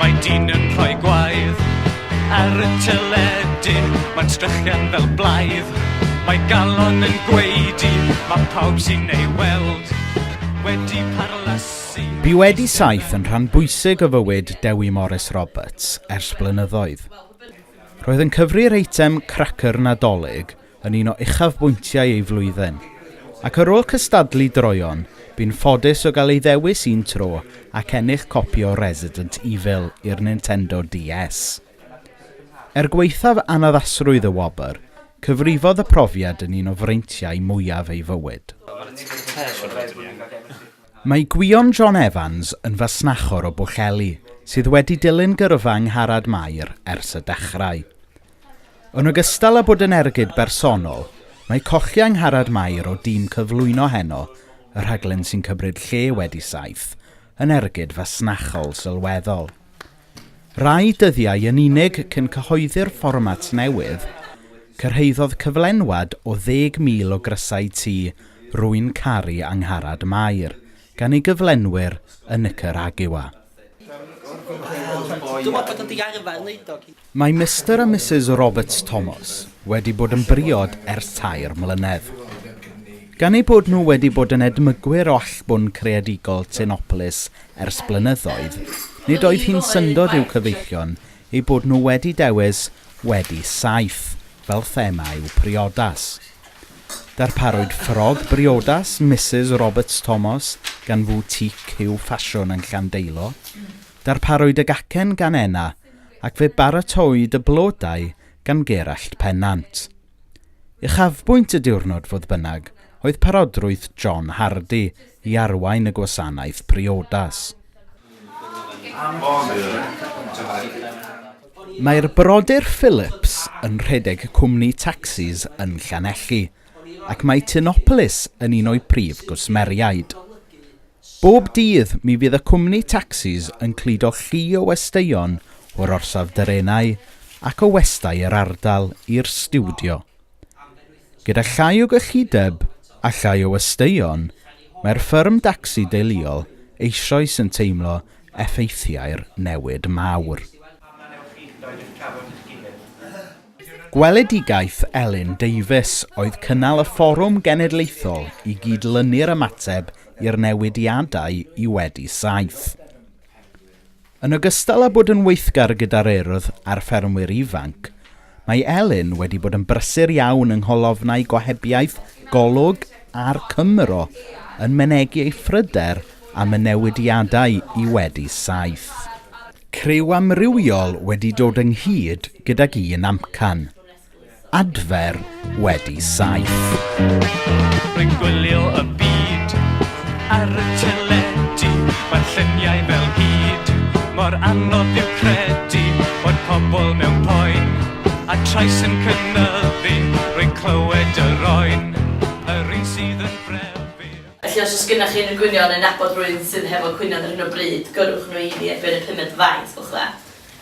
Mae dyn yn rhoi gwaith ar y teledu Mae'n strychian fel blaidd Mae galon yn gweidi Mae pawb sy'n ei weld wedi parlasu Bu wedi saith yn rhan bwysig o fywyd Dewi Morris Roberts ers blynyddoedd. Roedd yn cyfri'r eitem Cracyr Nadolig yn un o uchafbwyntiau ei flwyddyn, ac ar ôl cystadlu droeon, bu'n ffodus o gael ei ddewis un tro ac ennill copi o Resident Evil i'r Nintendo DS. Er gwaethaf annaddasrwydd y wobr, cyfrifodd y profiad yn un o freintiau mwyaf ei fywyd. Mae Gwion John Evans yn fasnachwr o Bwllheli sydd wedi dilyn gyrfa Angharad Mair ers y dechrau. Yn ogystal â bod yn ergyd bersonol, mae Cochi Angharad Mair o dîm cyflwyno heno, y rhaglen sy'n cymryd lle wedi saith, yn ergyd fasnachol sylweddol. Rai dyddiau yn unig cyn cyhoeddi'r fformat newydd, cyrhaeddodd cyflenwad o 10,000 o grysau Ti, Rwy'n Caru Angharad Mair gan ei gyflenwyr yn Nicaragua. Mae Mister a Misus Roberts Thomas wedi bod yn briod ers tair mlynedd. Gan eu bod nhw wedi bod yn edmygwyr o allbwn creadigol Tinopolis ers blynyddoedd, nid oedd hi'n syndod i'w cyfeillion eu bod nhw wedi dewis Wedi Saith fel thema i'w priodas. Darparwyd ffrog briodas Misus Roberts Thomas gan foutique Huw Ffasiwn yn Llandeilo. Darparwyd y gacen gan Enna ac fe baratoid y blodau gan Gerallt Pennant. Uchafbwynt y diwrnod, fodd bynnag, oedd parodrwydd John Hardy i arwain y gwasanaeth priodas. Mae'r brodyr Phillips yn rhedeg cwmni tacsis yn Llanelli ac mae Tinopolis yn un o'u prif gwsmeriaid. Bob dydd mi fydd y cwmni tacsis yn cludo llu o westeion o'r orsaf drenau ac o westai yr ardal i'r stiwdio. Gyda llai o gyllideb a llai o westeion, mae'r ffyrm dacsi deuluol eisoes yn teimlo effeithiau'r newid mawr. Gweledigaeth Elin Davies oedd cynnal y fforwm genedlaethol i gyd-lynu'r ymateb i'r newidiadau i wedi saith. Yn ogystal â bod yn weithgar gyda'r Urdd a'r ffermwyr ifanc, mae Elin wedi bod yn brysur iawn yng ngholofnau gohebiaeth Golwg a'r Cymro yn mynegi ei phryder am y newidiadau i wedi saith. Criw amrywiol wedi dod ynghyd gydag un amcan. Adfer wedi saith. Rwy'n gwylio y byd ar y teledu, mae'r lluniau fel hyd, mor anodd yw credu bod pobl mewn poen, a trais yn cynyddu, rwy'n clywed yr oen, yr un sydd yn frefu. Felly os oes gennych chi unrhyw gwynion neu nabod rhywun sydd hefo cwynion ar hyn o bryd, gyrrwch nhw i fi ar ben y pumed faint, gwelwch dda.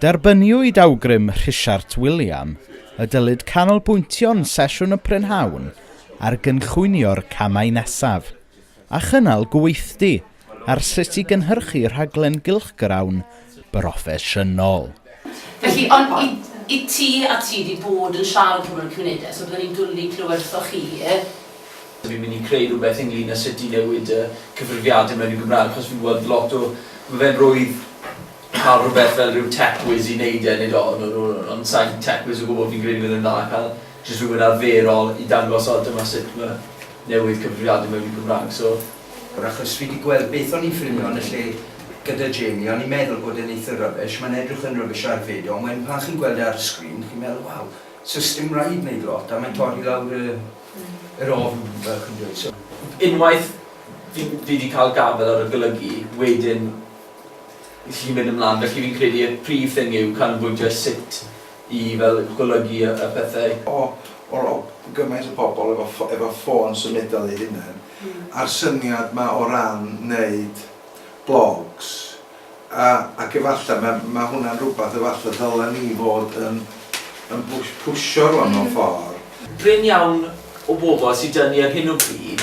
Derbyniwyd awgrym Rhisiart Wiliam y dylid canolbwyntio'n sesiwn y prynhawn ar gynllwynio'r camau nesaf, a chynnal gweithdy ar sut i gynhyrchu rhaglen gylchgrawn broffesiynol. Felly, ond i i ti a ti 'di bod yn siarad â pobl yn y cymunedau, so bydden ni'n dwli clywed wrthoch chi. Dw i'n mynd i creu rhywbeth ynglŷn â sut i newid y cyfrifiadur mewn i Gymraeg, achos fi'n gweld lot o... Mae fe'n rhwydd cael rhywbeth fel rhyw tech whiz i neud e, nid oll o nhw, ond sa i'n tech whiz o gwbl, fi'n credu bydd e'n dda cael jyst rhywun arferol i dangos o dyma sut ma' newydd cyfrifiadu mewn i Gymraeg, so. Wr achos fi di gweld beth o'n i'n ffilmio yn y lle gyda Jamie, o'n i'n meddwl bod e'n eitha rubbish, mae'n edrych yn rubbish ar fid, ond wedyn pan chi'n gweld e ar y sgrin, chi'n meddwl waw, so sdim raid neud lot, a mae'n torri lawr y yr ofn fel chi'n dweud, so. Unwaith fi fi di cael gafel ar y golygu, wedyn i chi mynd ymlan. Felly fi'n credu y prif thing yw canolbwyntio sut i fel golygu y y pethau. O, o o gymaint o bobl efo ffo- efo ffôn symudol eu hunain, a'r syniad 'ma o ran neud blogs, a ac efallai ma' ma' hwnna'n rwbath efallai ddylen ni fod yn yn pw- pwsio rŵan mewn ffor. Brin iawn o bobl sy 'da ni ar hyn o bryd.